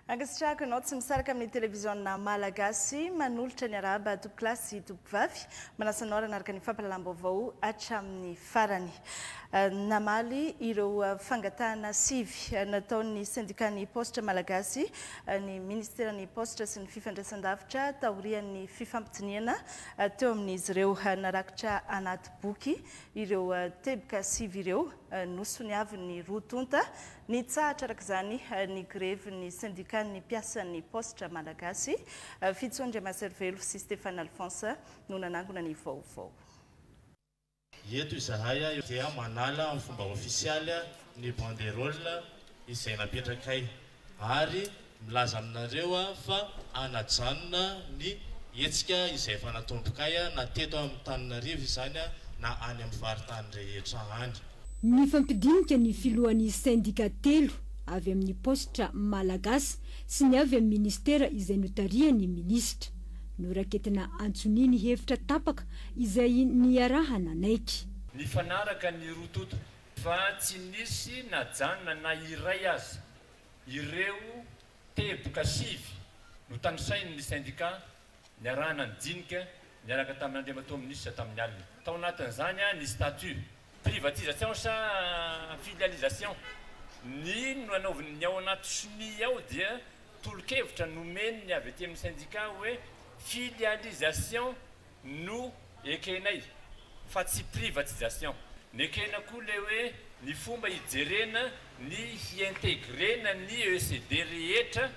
Ankasitrahako ianao tsy misaraka amin'ny televiziona malagasy manolotra ny arahaba tompoko lahy sy tompoko vavy. Manasa anao ranaraka ny fampalalam-baovao hatramin'ny farany. Eh, namaly ireo eh, fangatahana sivy eh, nataon'ny sendikàn'ny paositra malagasy ny ministeran'ny paositra sy ny fifandraisan-davitra taorian'ny fifampidinihana Teo amin'izy ireo narakitra anaty boky ireo teboka sivy ireo nosoniavin'ny roa tonta. Nitsahatra araka izany ny grevin'ny sendikan'ny mpiasan'ny paositra malagasy. Fijo Andriamaserivelo sy Stéphane Alphonse no nanangona ny vaovao. Eto izahay dia manala amin'ny fomba ofisialy ny banderole izay napetrakay ary milaza aminareo fa hanajanona ny hetsika izay efa natombokay na teto Antananarivo izany na any amin'ny faritany rehetra any. Nifampidinika ny filohan'ny sendika telo, avy amin'ny paositra Malagasy sy ny avy amin'ny minisitera izay notarihan'ny minisitra. Noraketina antsoniany hevitra tapaka izay niaraha nanaiky. Nifanaraka ny roa toto fa tsy nisy najanona na iray aza. Ireo teboka sivy notanisain' ny sendikà niarahana nijinika niaraka tamin' Andriamatoa Minisitra tamin'ny alina. Tao anatin' izany ny statut, privatisation sa filialisation, ny no anaovin' ny ao anaty sonia ao dia tolo-kevitra nomen' ny avy aty amin' ny sendikà hoe filialisation no ekenay fa tsy privatisation, nekena koa le hoe ny fomba hijerena ny hi-integrena ny ECD rehetra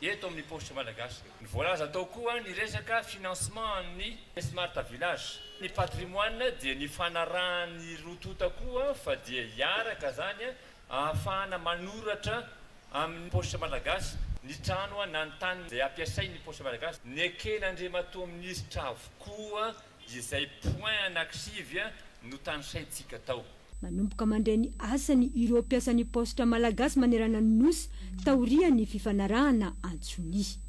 eto amin'ny paositra malagasy. Ny voalaza tao koa ny resaka financement an'ny smart village. Ny patrimoine dia nifanarahan'ny roa tonta koa fa dia hiaraka zany Ahafahana manoratra amin'ny paositra malagasy ny trano na ny tany izay ampiasain'ny paositra malagasy. Neken'Andriamatoa Minisitra avokoa izay points anankisivy notanisaintsika tao. Manomboka mandray ny asany ireo mpiasan'ny paositra malagasy manerana ny Nosy taorian'ny fifanarahana antsonia.